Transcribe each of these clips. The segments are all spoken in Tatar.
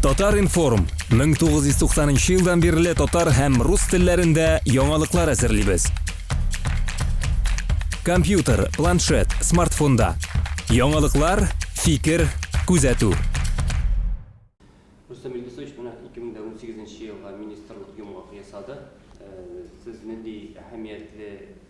Татар-информ, 1990 елдан бирле татар һәм рус телләрендә яңалыклар әзерлибез. Компьютер, планшет, смартфонда. Яңалыклар, фикер, күзәтү. Рустам Илдусович, менә 2018 елга министрлык йомгак ясады. Э, сез нинди әһәмиятле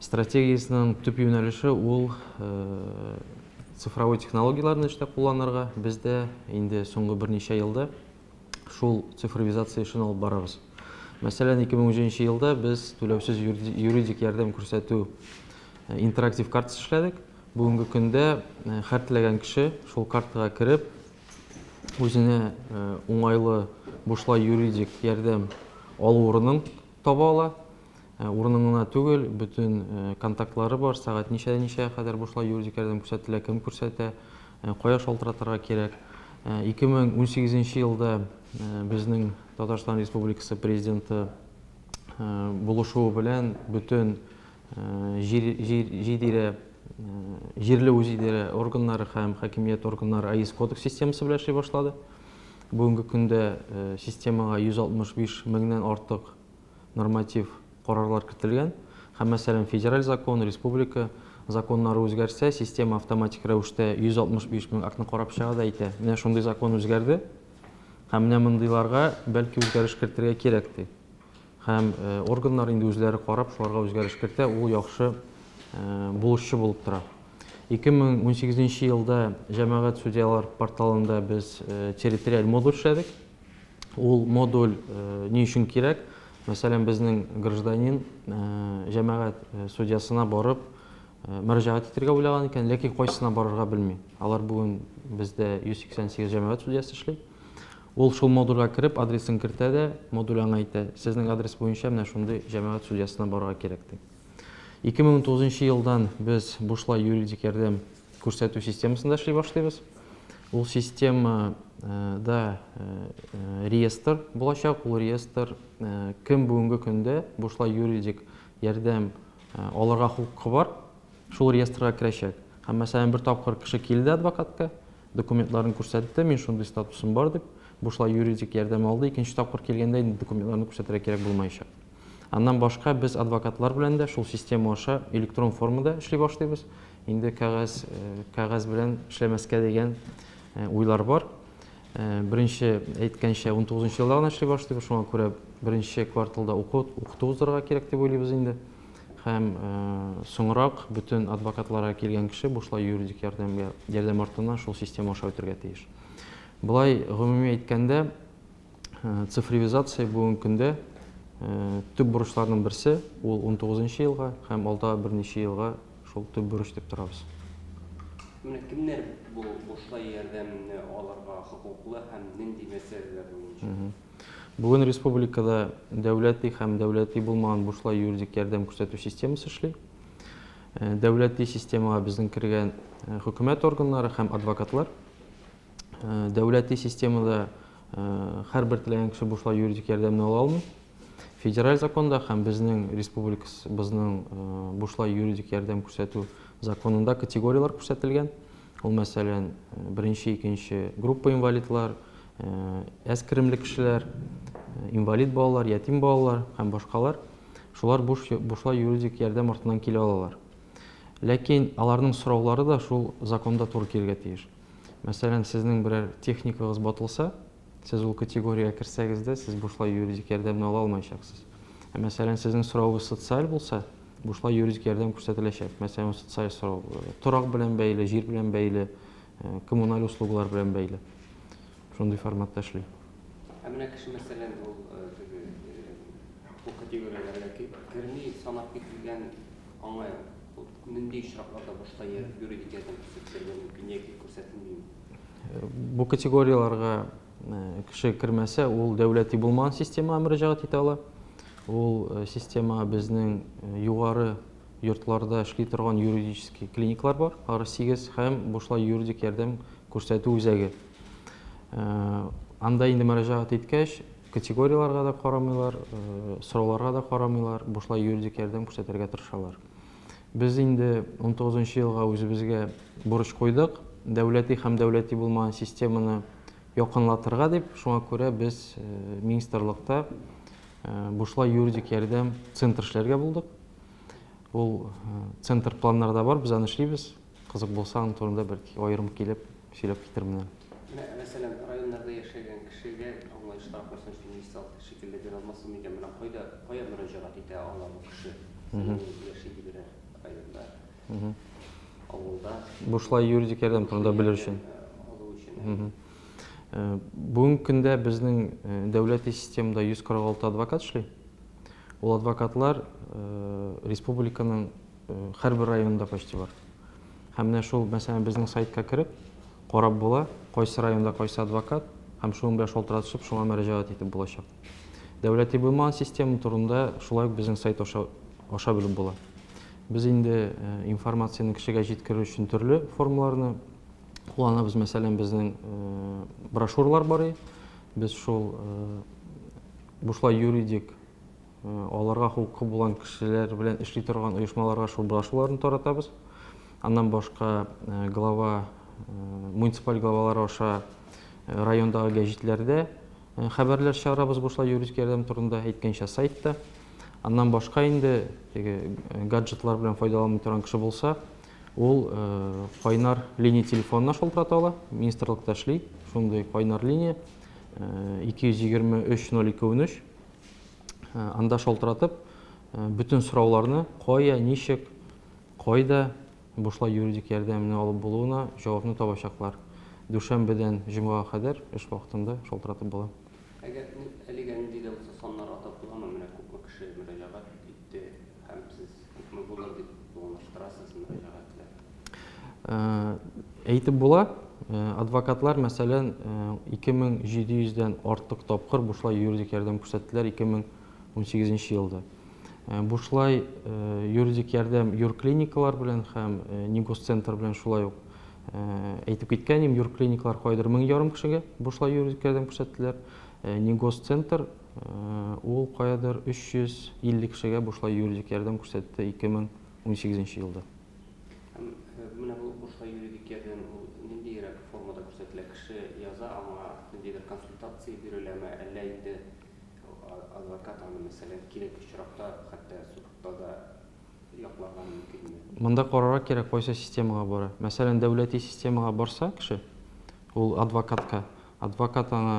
Стратегиясенең төп юнәлеше ул цифровой технологияләрне эштә кулланырга. Без дә инде соңгы берничә елда шул цифровизация эшен алып барабыз. Мәсәлән, 2003 елда без түләүсез юридик ярдәм күрсәтү интерактив картасы эшләдек. Бүгенге көндә һәр теләгән кеше шул картага кереп, үзенә уңайлы бушлай юридик ярдәм алу урынын таба ала. Урыным гына түгел, бөтен контактлары бар, сәгать ничәдән ничәгә кадәр бушлай юридик ярдәм күрсәтелә, кем күрсәтә, кая шалтыратырга кирәк. 2018 елда безнең Татарстан Республикасы Президенты булышуы белән бөтен җир-җир-җидирә җирле үзидарә органнары һәм хакимият органнары АИС кодекс системасы белән эшли башлады. Бүгенге көндә системага 165 меңнән артык норматив карарлар кертелгән һәм, мәсәлән, федераль закон, республика законнары үзгәрсә, система автоматик рәвештә 165 мең актны карап чыга да әйтә, менә шундый закон үзгәрде һәм менә мондыйларга бәлки үзгәреш кертергә кирәк ди. Һәм э, органнар инде үзләре карап шуларга үзгәреш кертә, ул яхшы э, булышчы булып тора. 2018 елда җәмәгать судьялар порталында без э, территориаль модуль эшләдек. ул модуль ни өчен кирәк? Мәсәлән, безнең гражданин җәмәгать судьясына барып мөрәҗәгать итәргә уйлаган икән, ләкин кайсына барырга белми. Алар бүген бездә 188 җәмәгать судьясы эшли. Ул шул модульгә кереп, адресын кертә дә, модуль аңа әйтә, сезнең адрес буенча менә шундый җәмәгать судьясына барырга кирәк, ди. 2009 елдан без бушлай юридик ярдәм Күрсәтү системасында эшли башлыйбыз. Ул системада реестр булачак. Ул реестр кем бүгенге көндә бушлай юридик ярдәм алырга хокукы бар, шул реестрга керәчәк. Һәм, мәсәлән, бер тапкыр кеше килде адвокатка, документларын күрсәтте, мин шундый статусым бар дип, бушлай юридик ярдәм алды. Икенче тапкыр килгәндә инде документларны күрсәтергә кирәк булмаячак. Аннан башка без адвокатлар белән дә шул система аша электрон формада эшли башлыйбыз. Инде кәгазь, кәгазь белән эшләмәскә дигән уйлар бар. Беренче әйткәнчә 19 елда гына эшли башлыйбыз, шуңа күрә беренче кварталда уку, укыту уздырырга кирәк дип уйлыйбыз инде. Һәм соңрак бөтен адвокатларга килгән кеше бушлай юридик ярдәмгә, ярдәм артына шул система аша үтергә тиеш. Болай гомуми әйткәндә, Цифровизация бүгенге көндә төп бурычларның берсе, ул 19 нчы елга һәм алда берничә елга шул төп бурыч дип торабыз. Менә кемнәр бу бушлай ярдәмне алырга хокуклы һәм нинди мәсьәләләр буенча? Бүген республикада дәүләти һәм дәүләти булмаган бушлай юридик ярдәм күрсәтү системасы эшли. Дәүләти системага безнең кергән хөкүмәт органнары һәм адвокатлар. Дәүләти системада һәрбер теләгән кеше бушлай юридик ярдәмне ала алмый. Федераль законда һәм безнең республикабызның бушлай юридик ярдәм күрсәтү законында категорияләр күрсәтелгән. Ул, мәсәлән, беренче, икенче группа инвалидлар, әз керемле кешеләр, инвалид балалар, ятим балалар һәм башкалар. Шулар бушлай юридик ярдәм артыннан килә алалар. Ләкин аларның сораулары да шул законда туры килергә тиеш. Мәсәлән, сезнең берәр техникагыз батылса, сез ул категориягә керсәгез дә, сез бушлай юридик ярдәмне ала алмаячаксыз. Ә мәсәлән, сезнең соравыгыз социаль булса, бушлай юридик ярдәм күрсәтеләчәк. Мәсәлән, ул социаль сорау булыр. Торак белән бәйле, җир белән бәйле, э, коммуналь услугалар белән бәйле. Шундый форматта эшли. Ә менә кеше, мәсәлән, ул э, теге э, бу категорияләргә ки- керми, санап кителгән, аңа Нинди очракларда башка я юридик ярдәм күрсәтелергә мөмкин яки күрсәтелмиме? Бу категорияләргә кеше кермәсә, ул дәүләти булмаган системага мөрәҗәгать итә ала. Ул система безнең югары йортларда эшли торган юридический клиниклар бар, ары 8 һәм бушлай юридик ярдәм күрсәтү үзәге. Анда инде мөрәҗәгать иткәч, Категорияләргә дә карамыйлар, сорауларга да карамыйлар, бушлай юридик ярдәм күрсәтергә тырышалар. Без инде 19 нчы елга үзебезгә бурыч куйдык, дәүләти һәм дәүләти булмаган системаны якынлатырга дип, шуңа күрә без министрлыкта бушлай юридик ярдәм центр эшләргә булдык. Ул центр планнарда бар, без аны эшлибез. Кызык булса, аның турында бәлки аерым килеп сөйләп китермнәр. Менә, мәсәлән, районнарда яшәгән кешегә аңлаешлырак булсын өчен мисал шикелле бирә алмассың микән, менә кайда, кая мөрәҗәгать итә ала бу кеше? Мхм. Ул яши диберәр районда, Мхм. авылда. Бушлай юридик ярдәм турында белер өчен. Алу өчен, әйе. Мхм. Бүгенге көндә безнең дәүләти системада 146 адвокат эшли. Ул адвокатлар республиканың Һәрбер районында почти бар. Һәм менә шул, мәсәлән, безнең сайтка кереп, карап була, кайсы районда кайсы адвокат, һәм шуның белән шалтыратышып, шуңа мөрәҗәгать итеп булачак. Дәүләти булмаган система турында шулай ук безнең сайт аша, аша белеп була. Без инде информацияне кешегә җиткерү өчен төрле формаларны кулланабыз. Мәсәлән, безнең брошюралар бар. Без шул бушлай юридик Аларга хокукы булган кешеләр белән эшли торган оешмаларга шул брошюраларны таратабыз. Аннан башка глава, муниципаль главалар аша райондагы гәҗитләрдә хәбәрләр чыгарабыз бушлай юридик ярдәм турында, әйткәнчә сайтта. Аннан башка инде теге гаджетлар белән файдаланмый торган кеше булса, ул кайнар линия телефонына шалтырата ала, министрлыкта эшли, шундый кайнар линия 223 0213 Анда шалтыратып, бөтен сорауларны кая, ничек, кайда бушлай юридик ярдәмне алып булуына җавапны табачаклар. Дүшәмбедән җомгага кадәр эш вакытында шалтыратып була. Әгәр әлегә нинди дә булса саннар атап буламы? Менә күпме кеше мөрәҗәгать итте, Һәм сез күпме булыр дип планлаштырасыз мөрәҗәгатьләр? Әйтеп була, адвокатлар, мәсәлән, 2700 дән артык тапкыр бушлай юридик ярдәм күрсәттеләр 2018 елда. Бушлай юридик ярдәм юрклиникалар белән һәм Нигосцентр белән шулай ук әйтеп киткән идем, юрклиникалар кайдыр мең ярым кешегә бушлай юридик ярдәм күрсәттеләр, Нигосцентр Ул каядыр 350 кешегә бушлай юридик ярдәм күрсәтте 2018 елда. Һәм менә бу бушлай юридик ярдәм ул ниндиерәк формада күрсәтелә? Кеше яза, аңа ниндидер консультация биреләме, әллә инде адвокат аны, мәсәлән, кирәк очракта хәтта судта да якларга мөмкинме? Монда карарга кирәк, кайсы системага бара. Мәсәлән, дәүләти системага барса кеше, ул адвокатка, адвокат аңа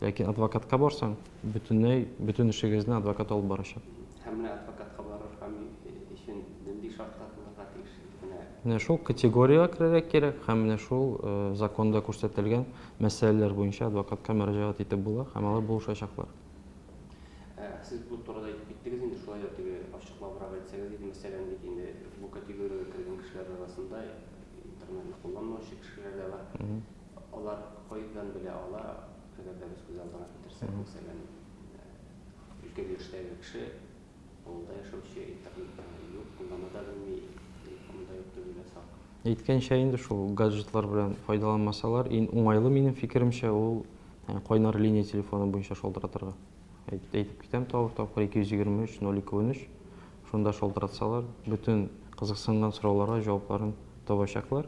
Ләкин адвокатка барсаң, бөтенләй бөтен эшегезне адвокат алып барачак. Һәм менә адвокатка барырга өчен нинди шартлар булырга тиеш? Менә. Менә шул категориягә керергә кирәк һәм менә шул законда күрсәтелгән мәсьәләләр буенча адвокатка мөрәҗәгать итеп була һәм алар булышачаклар. Сез бу турыда әйтеп киттегез инде, шулай да теге ачыклабрак әйтсәгез иде, мәсәлән, бит инде бу категориягә кергән кешеләр арасында интернетны кулланмаучы кешеләр дә бар. Алар кайдан белә ала, әгәр дә без күз алдына китерсәк, мәсәлән, өлкән яшьтәге кеше, авылда яшәүче, интернет юк, куллана да белми, телефоны да юк, төгәлә сак. Әйткәнчә инде шул, гаджетлар белән файдаланмасалар, иң уңайлы, минем фикеремчә, ул кайнар линия телефоны буенча шалтыратырга. Әйтеп китәм тагы бер тапкыр, 223 02 13, шунда шалтыратсалар, бөтен кызыксынган сорауларга җавапларын табачаклар.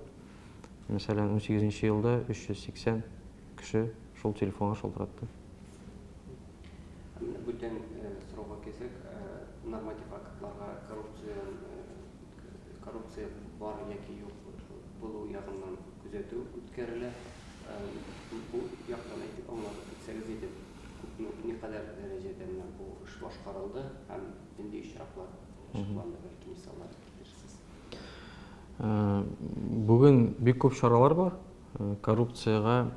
мәсәлән, унсигезенче елда 380 кеше шул телефонга шалтыратты. Ә менә бүтән сорауга килсәк, норматив актларга коррупция, коррупция бар яки юк булу ягыннан күзәтү үткәрелә. Бу яктан әйтеп аңлатып үтсәгез иде, күпме, никадәр дәрәҗәдә менә бу эш башкарылды һәм нинди очраклар ачыкланды, бәлки мисаллар? Бүген бик күп чаралар бар. Коррупциягә,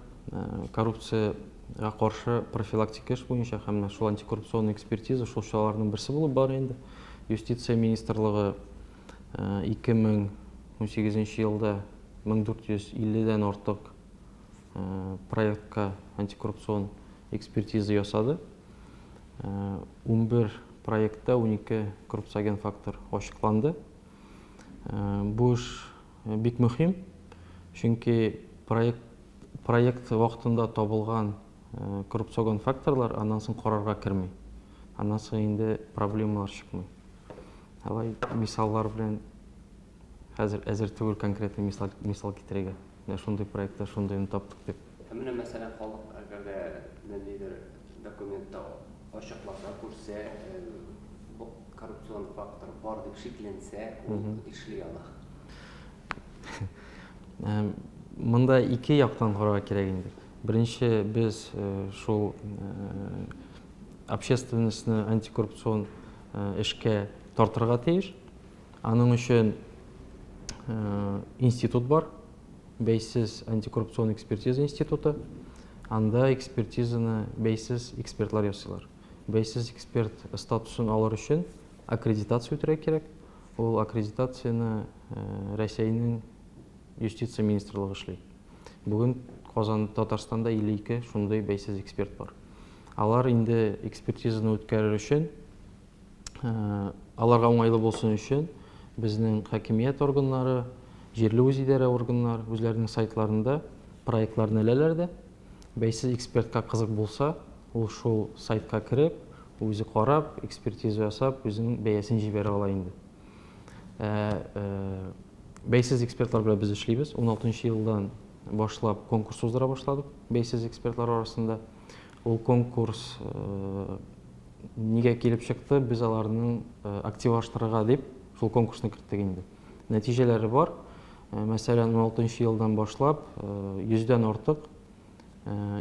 коррупциягә каршы профилактика эш буенча һәм менә шул антикоррупционный экспертиза шул чараларның берсе булып бара инде. Юстиция министрлыгы 2018 елда 1450 дән артык проектка антикоррупцион экспертиза ясады. Унбер проектта унике коррупциоген фактор ачыкланды. Бу эш бик мөһим, чөнки проект вакытында табылган коррупциогон факторлар аннан соң карарга керми. Аннан соң инде проблемалар чыкмый. Алай мисаллар белән Хәзер әзер түгел конкретный мисал, мисал китерергә. Менә шундый проектта шундыйны таптык дип. Ә менә мәсәлән халык әгәр дә ниндидер документта ачыкларда күрсә, бу коррупцион фактор бар дип шикләнсә, ул эшли ала. Монда ике яктан карарга кирәк инде. Беренче без шул общественностьны антикоррупцион эшкә тартырга тиеш. Аның өчен институт бар, бәйсез антикоррупцион экспертиза институты. Анда экспертизаны бәйсез экспертлар ясыйлар. Бәйсез эксперт статусын алыр өчен аккредитация үтәргә кирәк. Ул аккредитацияне Рәсәйнең юстиция министрлыгы эшли. Бүген Казан Татарстанда 52 шундый бәйсез эксперт бар. Алар инде экспертизаны үткәрер өчен аларга уңайлы булсын өчен безнең хакимият органнары, җирле үзидарә органнары үзләренең сайтларында проектларны эләләр дә, бәйсез экспертка кызык булса, ул шул сайтка кереп, үзе карап, экспертиза ясап, үзенең бәясен җибәрә ала инде. Бәйсез экспертлар белән без эшлибез. 16 елдан башлап конкурс уздыра башладык бәйсез экспертлар арасында. Ул конкурс нигә килеп чыкты? Без аларны активлаштырырга дип шул конкурсны керттек инде. Нәтиҗәләре бар. Мәсәлән, 16 елдан башлап 100-дән артык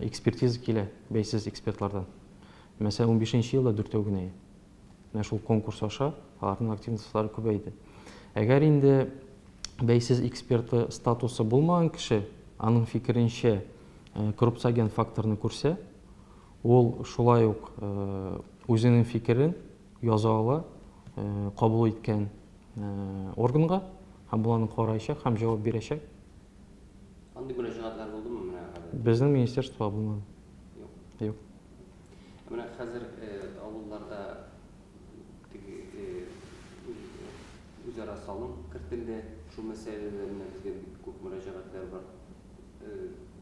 экспертиза килә бәйсез экспертлардан. Мәсәлән, 15 елда дүртәү генә. Менә шул конкурс аша аларның активностлары күбәйде. Әгәр инде бәйсез эксперты статусы булмаган кеше, аның фикеренчә, э, коррупциоген факторны күрсә, ул шулай ук э, үзенең фикерен яза ала э, кабул иткән органга һәм боларны караячак һәм җавап бирәчәк. Андый мөрәҗәгатьләр булдымы менә? Безнең министерство булмады. Юк. Юк. Ә менә хәзер авылларда теге үзара салым кертелде. Шул мәсьәләләр менә безгә бик күп мөрәҗәгатьләр бар.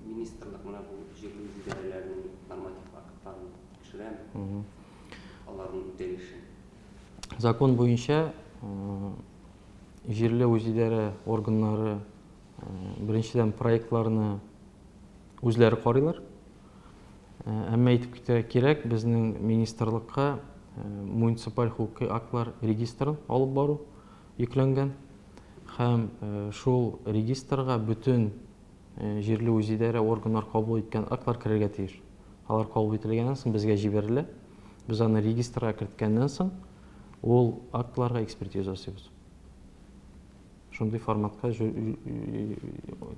Министрлык менә бу җирле үзидарәләрнең норматив актларын тикшерәме? Аларның үтәлешен. Закон буенча җирле үзидарә органнары беренчедән проектларны Үзләре карыйлар. Әмма әйтеп китәргә кирәк, безнең министрлыкка муниципаль хокукый актлар регистрын алып бару йөкләнгән һәм шул регистрга бөтен җирле үзидарә органнар кабул иткән актлар керергә тиеш. Алар кабул ителгәннән соң безгә җибәрелә. Без аны регистрга керткәннән соң ул актларга экспертиза ясыйбыз. Шундый форматка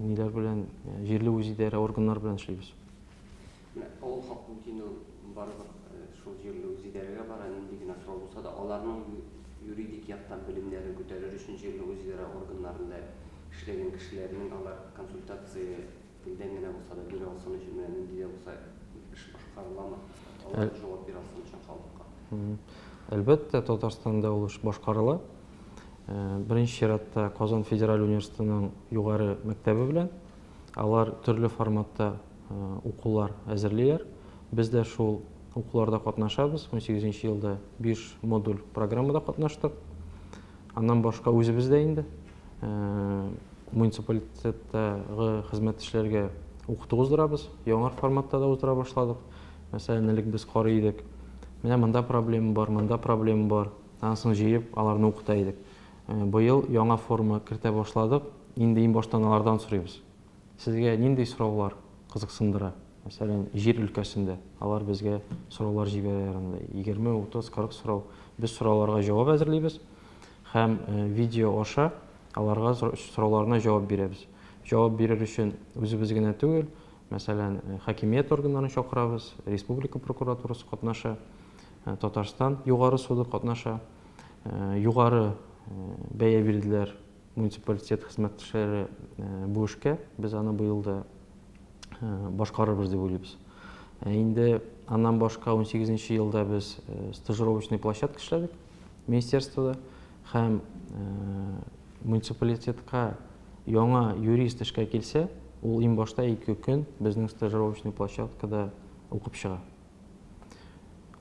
ниләр белән, җирле үзидарә органнары белән эшлибез. Авыл халкы мөмкин ул барлык шул җирле үзидарәгә бара, нинди генә сорау булса да, аларның юридик яктан белемнәрен күтәрер өчен җирле үзидарә органнарында эшләгән кешеләрнең алар консультация Нидән генә булса да бирә алсын өчен, менә нинди дә булса эш башкарыламы? Алар да җавап бирә алсын өчен халыкка. Әлбәттә, Татарстанда ул эш башкарыла. Беренче чиратта Казан федераль университетының югары мәктәбе белән. Алар төрле форматта укулар әзерлиләр. Без дә шул укуларда катнашабыз. 18 елда биш модуль программада катнаштык. Аннан башка үзебез дә инде муниципалитеттагы хезмәттәшләргә укыту уздырабыз. Яңа форматта да уздыра башладык. Мәсәлән, элек без карый идек. Менә монда проблема бар, монда проблема бар. Анысын җыеп, аларны укыта идек. Быел яңа форма кертә башладык. Инде иң баштан алардан сорыйбыз. Сезгә нинди сораулар кызыксындыра? Мәсәлән, җир өлкәсендә. Алар безгә сораулар җибәрәләр анда. Егерме, утыз, кырык сорау. Без сорауларга җавап әзерлибез һәм видео аша аларга сорауларына җавап бирәбез. Җавап бирер өчен үзебез генә түгел, мәсәлән, хакимият органнарын чакырабыз, республика прокуратурасы катнаша, Татарстан Югары суды катнаша. Югары бәя бирделәр Муниципалитет хезмәттәшләре бу эшкә, без аны быел да башкарырбыз дип уйлыйбыз. Инде аннан башка 18 нче елда без стажировочный площадка эшләдек министерствода һәм муниципалитетка яңа юрист эшкә килсә, ул иң башта ике көн безнең стажировочный площадкада укып чыга.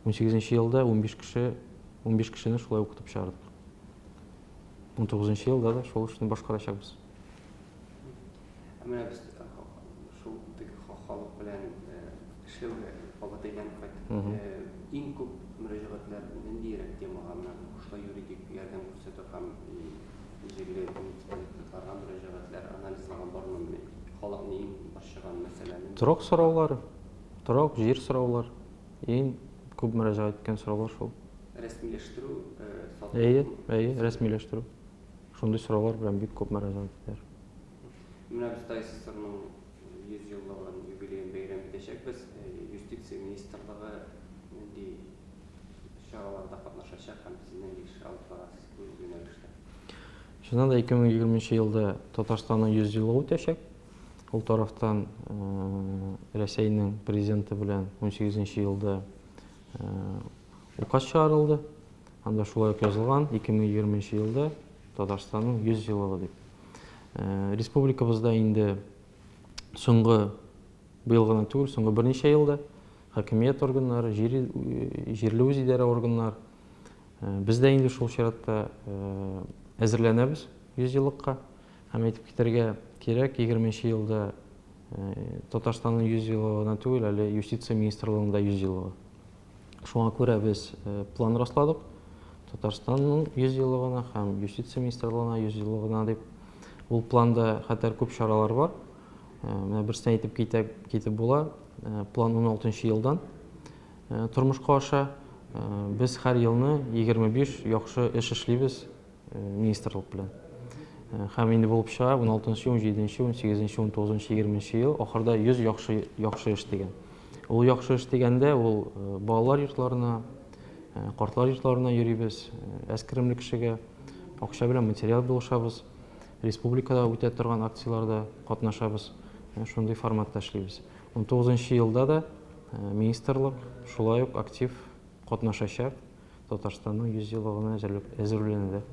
18 нче елда 15 кеше, 15 кешене шулай укытып чыгардык. 19 нчы елда да шул эшне башкарачакбыз. Ә менә без э, шул теге халык белән э, эшләүгә алга әйләнеп кайттык. Э, иң күп мөрәҗәгатьләр ниндирәк темага менә шулай юридик ярдәм күрсәтү һәм җирле депутатларга мөрәҗәгатьләр анализлаган бармы? Халыкны иң борчыган мәсьәләне. Торак сораулары. Торак җир сораулар, иң күп мөрәҗәгать иткән сораулар шул. Рәсмиләштерү, сату. Әйе, әйе, рәсмиләштерү. Шундый сораулар белән бик күп мөрәҗәгать итәләр. Менә без Тай СССРның 100 еллыгын, юбилеен бәйрәм итәчәкбез. Юстиция министрлыгы нинди чараларда катнашачак һәм сез нинди эш алып барасыз бу юнәлештә? Чыннан да, 2020 елда Татарстанның 100 еллыгы үтәчәк. Ул тарафтан Рәсәйнең президенты белән 18 нче елда указ чыгарылды. Анда шулай ук язылган 2020 нче елда Татарстанның 100 еллыгы дип. Республикабызда инде соңгы быел гына түгел, соңгы берничә елда хакимият органнары, җир, җирле үзидарә органнар, без дә инде шул чиратта әзерләнәбез 100 еллыкка. Һәм әйтеп китәргә кирәк, егерменче елда Татарстанның 100 елы гына түгел, әле юстиция министрлыгының да 100 елы. Шуңа күрә без план расладык. Татарстанның 100 елы гына һәм юстиция министрлыгына 100 елы гына дип. Ул планда хәтәр күп чаралар бар. Менә берсен әйтеп китә, китеп була. План 16 елдан тормышка аша. Без һәр елны 25 яхшы эш эшлибез. министрлык белән. Һәм инде булып чыга 16-нчы, 17-нче, 18-нче, 19-нчы, 20-нче ел ахырда 100 яхшы яхшы эш дигән. Ул яхшы эш дигәндә ул балалар йортларына, картлар йортларына йөрибез, әскеремле кешегә акча белән материал булышабыз, республикада үтә торган акцияләрдә катнашабыз, шундый форматта эшлибез. 19 елда да министрлык шулай ук актив катнашачак. Татарстанның 100 еллыгына әзерлек әзерлүләнелә.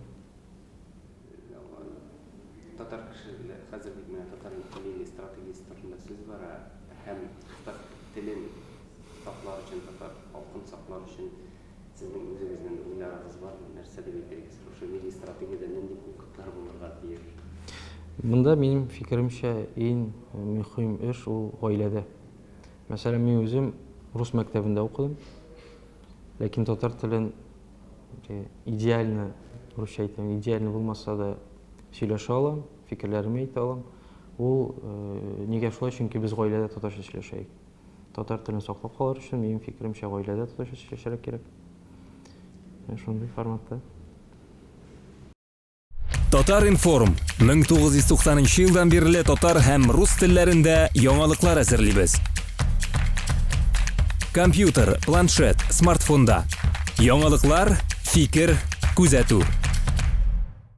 Татар кешеле хәзер бит менә татар милли стратегиясе турында сүз бара һәм татар телен саклар өчен, татар халкын саклар өчен сезнең үзегезнен уйларыгыз бармы? Нәрсә дип әйтергез? Шушы милли стратегиядә нинди пунктлар булырга тиеш? Монда минем фикеремчә ин мөхим эш ул гаиләдә. Мәсәлән, мин үзем рус мәктәбендә укыдым. Ләкин татар телен идеально, русча әйтәм, идеально булмаса да сөйләшә алам, фикерләремне әйтә алам. Ул э, нигә шулай? Чөнки без гаиләдә татарча сөйләшәек. Татар телен саклап калыр өчен, минем фикеремчә, гаиләдә татарча сөйләшергә кирәк. Шундый форматта. Татар-информ 1990 елдан бирле татар һәм рус телләрендә яңалыклар әзерлибез. Компьютер, планшет, смартфонда. Яңалыклар, фикер, күзәтү.